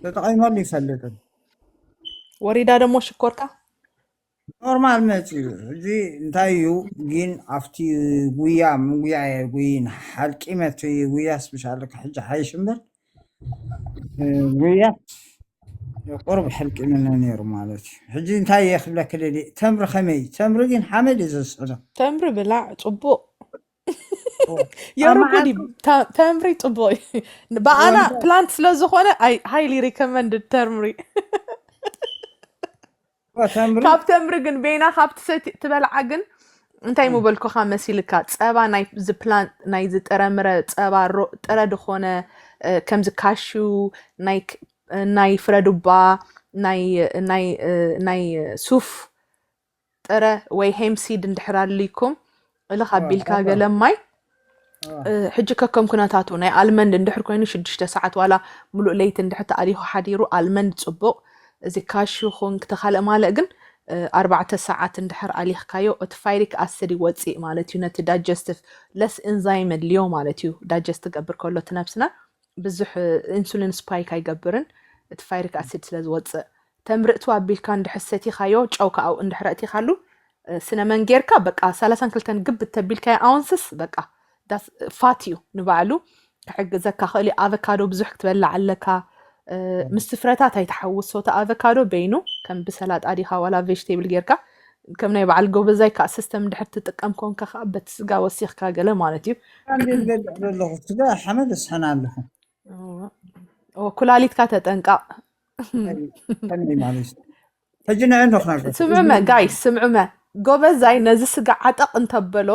ተጠቂመሉ ይፈልጥን ወሪዳ ደሞ ሽኮርካ ኖርማል መፅዩ እዚ እንታይ እዩ ግን ኣብቲ ጉያ ምጉያ እየ ጉይን ሓልቂመት ጉያስ ብሻለ ሕጂ ሓይሽ እምበር ጉያ ቁርብ ሕልቂምነ ነይሩ ማለት እዩ ሕጂ እንታይ እየ ክብለክ ደሊ ተምሪ ከመይ እዩ ተምሪ ግን ሓመድ እዩ ዘስዕዶ ተምሪ ብላዕ ፅቡቅ የርጉዲ ተምሪ ፅቡቅ እዩ ብኣና ፕላንት ስለዝኮነ ሃይሊ ሪኮመንድ ተምሪ ካብ ተምሪ ግን ቤና ካብ ትበልዓ ግን እንታይ ምበልኩካ መሲልካ ፀባ ናይዚ ፕላንት ናይዚ ጥረምረ ፀባ ጥረ ድኮነ ከምዚ ካሹ ናይ ፍረዱባ ናይ ሱፍ ጥረ ወይ ሄምሲድ እንድሕር ኣልይኩም እልኽ ኣቢልካ ገለ ማይ ሕጂ ከከም ኩነታቱ ናይ ኣልመንድ እንድሕር ኮይኑ ሽዱሽተ ሰዓት ዋላ ሙሉእ ለይቲ እንድሕር ተኣሊኹ ሓዲሩ ኣልመንድ ፅቡቕ እዚ ካሽ ይኹን ክተካልእ ማለእ ግን ኣርባዕተ ሰዓት እንድሕር ኣሊኽካዮ እቲ ፋይሪክ ኣስድ ይወፅእ ማለት እዩ ነቲ ዳጀስትፍ ለስ ኤንዛይም የድልዮ ማለት እዩ ዳጀስት ትገብር ከሎ እቲ ነብስና ብዙሕ ኢንሱሊን ስፓይክ ኣይገብርን እቲ ፋይሪክ ኣሲድ ስለ ዝወፅእ ተምር'ቱ ኣቢልካ እንድሕር ሰቲኻዮ ጨው ከኣ እንድሕር ኣእቲኻሉ ስነ መን ጌርካ በቃ ሰላሳን ክልተን ግብት ተቢልካዮ ኣውንስስ በቃ ዳስ ፋት እዩ ንባዕሉ ክሕግዘካ ክእል እዩ ኣቨካዶ ብዙሕ ክትበላዕ ኣለካ ምስ ፍረታት ኣይትሓውሶ እቲ ኣቨካዶ በይኑ ከም ብሰላጣ ዲኻ ዋላ ቬጅቴብል ጌርካ ከም ናይ በዓል ጎበዛይ ከዓ ሲስተም እንድሕር ትጥቀም ኮንካ ከዓ በቲ ስጋ ወሲኽካ ገለ ማለት እዩ ኣንዴ ዝገድዕ ዘለኹ ስጋ ሓመድ እስሕን ኣለኹ ኩላሊትካ ተጠንቀቕ ስምዑመ ጋይ ስምዑመ ጎበዛይ ነዚ ስጋ ዓጠቕ እንተበሎ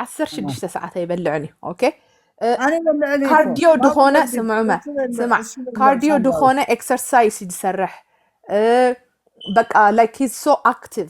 ዓሰርተ ሽዱሽተ ሰዓት ኣይበልዕን እዩ ኦኬ ካርዲዮ ድኾነ ስምዑመ ስማዕ ካርዲዮ ድኾነ ኤክሰርሳይስ እዩ ዝሰርሕ በቃ ላይክ ሂዝ ሶ ኣክቲቭ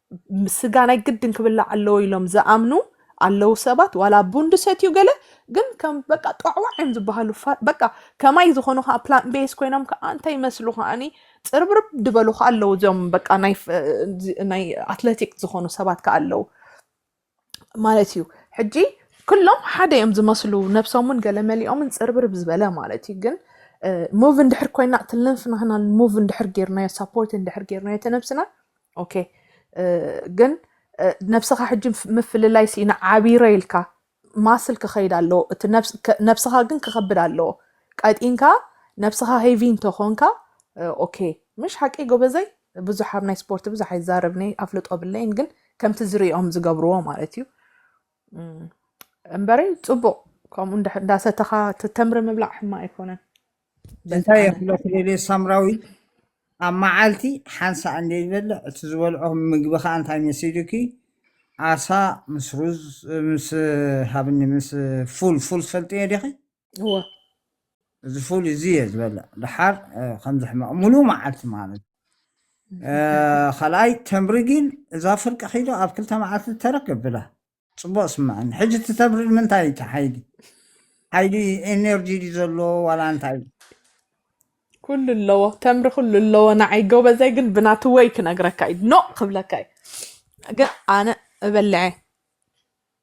ስጋ ናይ ግድን ክብላዕ ኣለዎ ኢሎም ዝኣምኑ ኣለው ሰባት ዋላ ቡን ድሰትዩ ገለ ግን ከም በቃ ጧዕዋዕ እዮም ዝበሃሉ ፋ- በቃ ከማይ ዝኾኑ ከዓ ፕላን ቤስ ኮይኖም ከዓ እንታይ ይመስሉ ከዓኒ ፅርብርብ ድበሉ ከዓ ኣለው እዚኦም በቃ ናይ ፍ- እዚ- ናይ ኣትለቲክ ዝኾኑ ሰባት ከዓ ኣለው ማለት እዩ ሕጂ ኩሎም ሓደ እዮም ዝመስሉ ነብሶምን ገለመሊኦምን ፅርብርብ ዝበለ ማለት እዩ ግን ሙቭ እንድሕር ኮይና እቲ ልንፍናህና ሙቭ እንድሕር ጌርናዮ ሳፖርት እንድሕር ጌርናዮ እቲ ነብስና ኦኬ ግን ነብስኻ ሕጂ ምፍልላይ ሲኢና ዓቢረ ኢልካ ማስል ክኸይድ ኣለዎ እቲ ነብስኻ ግን ክኸብድ ኣለዎ ቀጢንካ ነብስኻ ሄቪ እንተኾንካ ኦኬ ምሽ ሓቂ ጎበዘይ ብዙሕ ኣብ ናይ ስፖርት ብዙሕ ኣይዛረብንይ ኣፍልጦ ብለይን ግን ከምቲ ዝሪኦም ዝገብርዎ ማለት እዩ እምበረይ ፅቡቅ ከምኡ እንዳሰተኻ ተምሪ ምብላዕ ሕማ ኣይኮነን እንታይ የፍለኩ ደልየ ሳምራዊት ኣብ መዓልቲ ሓንሳእ እንደ ዝበልዕ እቲ ዝበልዖ ምግቢ ከዓ እንታይ መሲሉኪ ዓሳ ምስ ሩዝ ምስ ሃብኒ ምስ ፉል ፉል ትፈልጥዮ ዲኺ እወ እዚ ፉል እዚ እየ ዝበልዕ ድሓር ከምዚ ሕማቕ ሙሉእ መዓልቲ ማለት ካልኣይ ተምሪ ግን እዛ ፍርቂ ኪሎ ኣብ ክልተ መዓልቲ ተረክ ብላ ፅቡቅ ስምዐኒ ሕጂ እቲ ተምሪ ንምንታይ እዩ ሓይሊ ሓይሊ ኤነርጂ ድዩ ዘሎ ዋላ እንታይ እዩ ኩሉ ኣለዎ ተምሪ ኩሉ ኣለዎ ንዓይ ጎበዘይ ግን ብናቲ ወይ ክነግረካ እዩ ኖ ክብለካ እዩ ግን ኣነ እበልዐ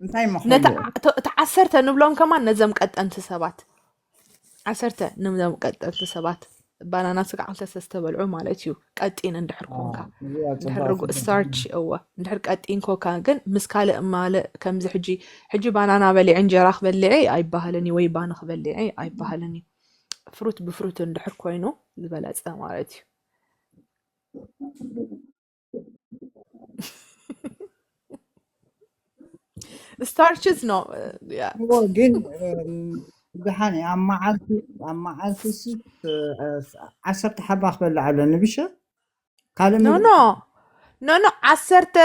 እንታይ እሞ ነቲ ከይዎ ዓ- እቶ- እቲ ዓሰርተ ንብሎም ከማን ነዘም ቀጠንቲ ሰባት ዓሰርተ ንብሎም ቀጠንቲ ሰባት ባናና ስጋ ክልተ ሰ ዝተበልዑ ማለት እዩ ቀጢን እንድሕር ኮንካ አዎ፣ እዚኣ እንድሕር ጽቡቅ ርጉእ ጽቡቅ ስታርች እወ እንድሕር ቀጢን ኮካ ግን ምስ ካልእ ማለ ከምዚ ሕጂ ሕጂ ባናና በሊዐ እንጀራ ክበልዐ ኣይበሃልን እዩ ወይ ባኒ ክበልዐ ኣይበሃልን እዩ ፍሩት ብፍሩት እንድሕር ኮይኑ ዝበለፀ ማለት እዩ ስታርችስ ኖ ያ እዎ ግን እም፣ ብድሓን እየ። ኣብ መዓልቲ ኣብ መዓልቲ ሲ ዓሰርተ ሓባ ክበልዕ ኣለኒ ብሻ ካልእ ኖ ምግቢ ኖ ኖ ኖ ዓሰርተ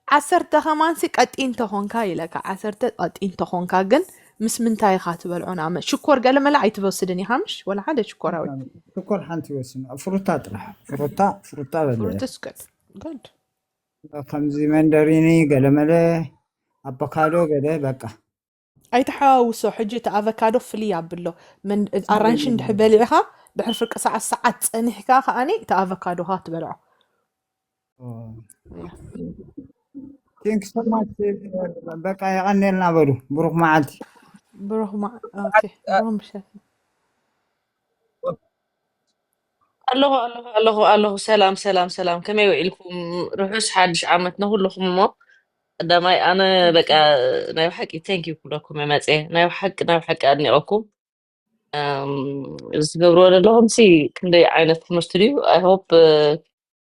ዓሰርተ ከማንሲ ቀጢን ተኾንካ ይለካ ዓሰርተ ቀጢን ተኾንካ ግን ምስ ምንታይ ኢኻ ትበልዖ ንኣመት ሽኮር ገለመለ ኣይትወስድን ኢኻ ምሽ ወላ ሓደ ሽኮራዊ ሽኮር ሓንቲ ወስን ፍሩታ ጥራሕ ፍሩታ ፍሩታ በለ ፍሩትስ good good ከምዚ መንደሪኒ ገለመለ ኣቮካዶ ገለ በቃ ኣይተሓዋውሶ ሕጂ እቲ ኣቮካዶ ፍልይ ኣብሎ መን- ኣራንሺ እንድሕር በሊዕኻ ድሕሪ ፍርቂ ሰዓት ሰዓት ፀኒሕካ ከዓኒ እቲ ኣቮካዶኻ ትበልዖ ቴንክ ሶ ማች በቃ የቀኔልና በሉ ብሩክ መዓልቲ ብሩክ ማ ኦኬ ብሩክ ምሸት ኣለኹ ኣለኹ ኣለኹ ኣለኹ ሰላም ሰላም ሰላም ከመይ ውዒልኩም ርሑስ ሓድሽ ዓመት ንኩልኹም እሞ ቀዳማይ ኣነ በቃ ቴንኪዩ ናይ ብሓቂ ተንክ ዩ ክብለኩም እየ መፅየ ናይ ብሓቂ ናይ ብሓቂ ኣድኒቐኩም እም፣ እዚ ትገብርዎ ዘለኹም ሲ ክንደይ ዓይነት ትምህርቲ ድዩ ኣይሆፕ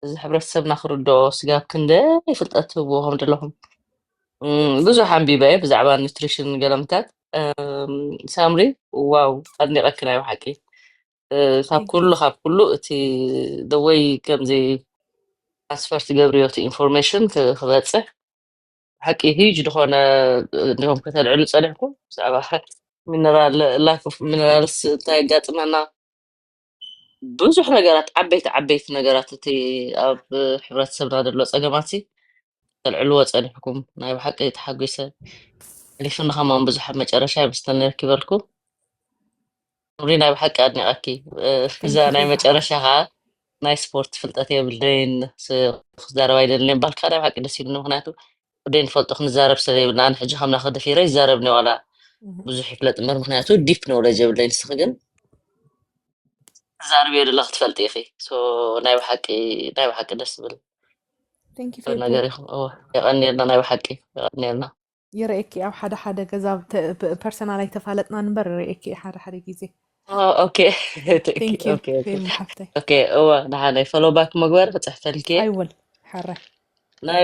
እዚ ሕብረተሰብና ክርድኦ ስጋብ ክንደይ ፍልጠት ትህብዎ ከም ዘለኹም እም፣ ብዙሕ ኣንቢበ እየ ብዛዕባ ኒትሪሽን ገለምታት እም፣ ሳምሪ ዋው ኣድኒቐኪ ናይ ብሓቂ እ፣ ካብ Thank you. ኩሉ ካብ ኩሉ እቲ ደወይ ከምዚ ትራንስፈር ትገብርዮ እቲ ኢንፎርሜሽን ክበፅሕ ብሓቂ ህዩጅ ዝኾነ እንዲኹም ከተልዕሉ ፀኒሕኩም ብዛዕባ ሚነራል ላክ ኦፍ ሚነራልስ እንታይ የጋጥመና ብዙሕ ነገራት ዓበይቲ ዓበይቲ ነገራት እቲ ኣብ ሕብረተሰብና ዘሎ ፀገማት ሲ ተልዕልዎ ፀኒሕኩም ናይ ብሓቂ ተሓጒሰ ሕሊፉኒ ከማን ብዙሕ ኣብ መጨረሻ ይምስተኒ ረኪበልኩ ሪ ናይ ብሓቂ ኣድኒቐኪ እ፣ እዛ ናይ መጨረሻ ከዓ ናይ ስፖርት ፍልጠት የብለይን ስ- ክዛረብ ኣይደልን እየ እምበኣልካ ናይ ብሓቂ ደስ ኢሉኒ ምክንያቱ ወደይ ንፈልጦ ክንዛረብ ሰብ የብልና ኣነ ሕጂ ከምናኸ ደፊረ ይዛረብኒ ዋላ ብዙሕ ይፍለጥ እምበር ምክንያቱ ዲፕ ኖለጅ የብለይ ንስኺ ግን ትዛርብዮ ዘለኺ ትፈልጢ ኢኺ ሶ ናይ ብሓቂ ናይ ብሓቂ ደስ ዝብል ቴንክ ዩ ፌቡ ነገር ኢኹም እወ የቐንየልና ናይ ብሓቂ የቐንየልና ይርእየኪ ኣብ ሓደ ሓደ ገዛ ፐርሰናል ኣይተፋለጥናን እምበር ይርእየኪ እየ ሓደ ሓደ ግዜ ኦ፣ ኦኬ ኦኬ ቴንክ ዩ ኦኬ ፌቡ ሓፍተይ ኦኬ እወ ንሓነይ ፎሎ ባክ መግበር ክፅሕፈልኪ እየ ኣይወል ሓራይ ናይ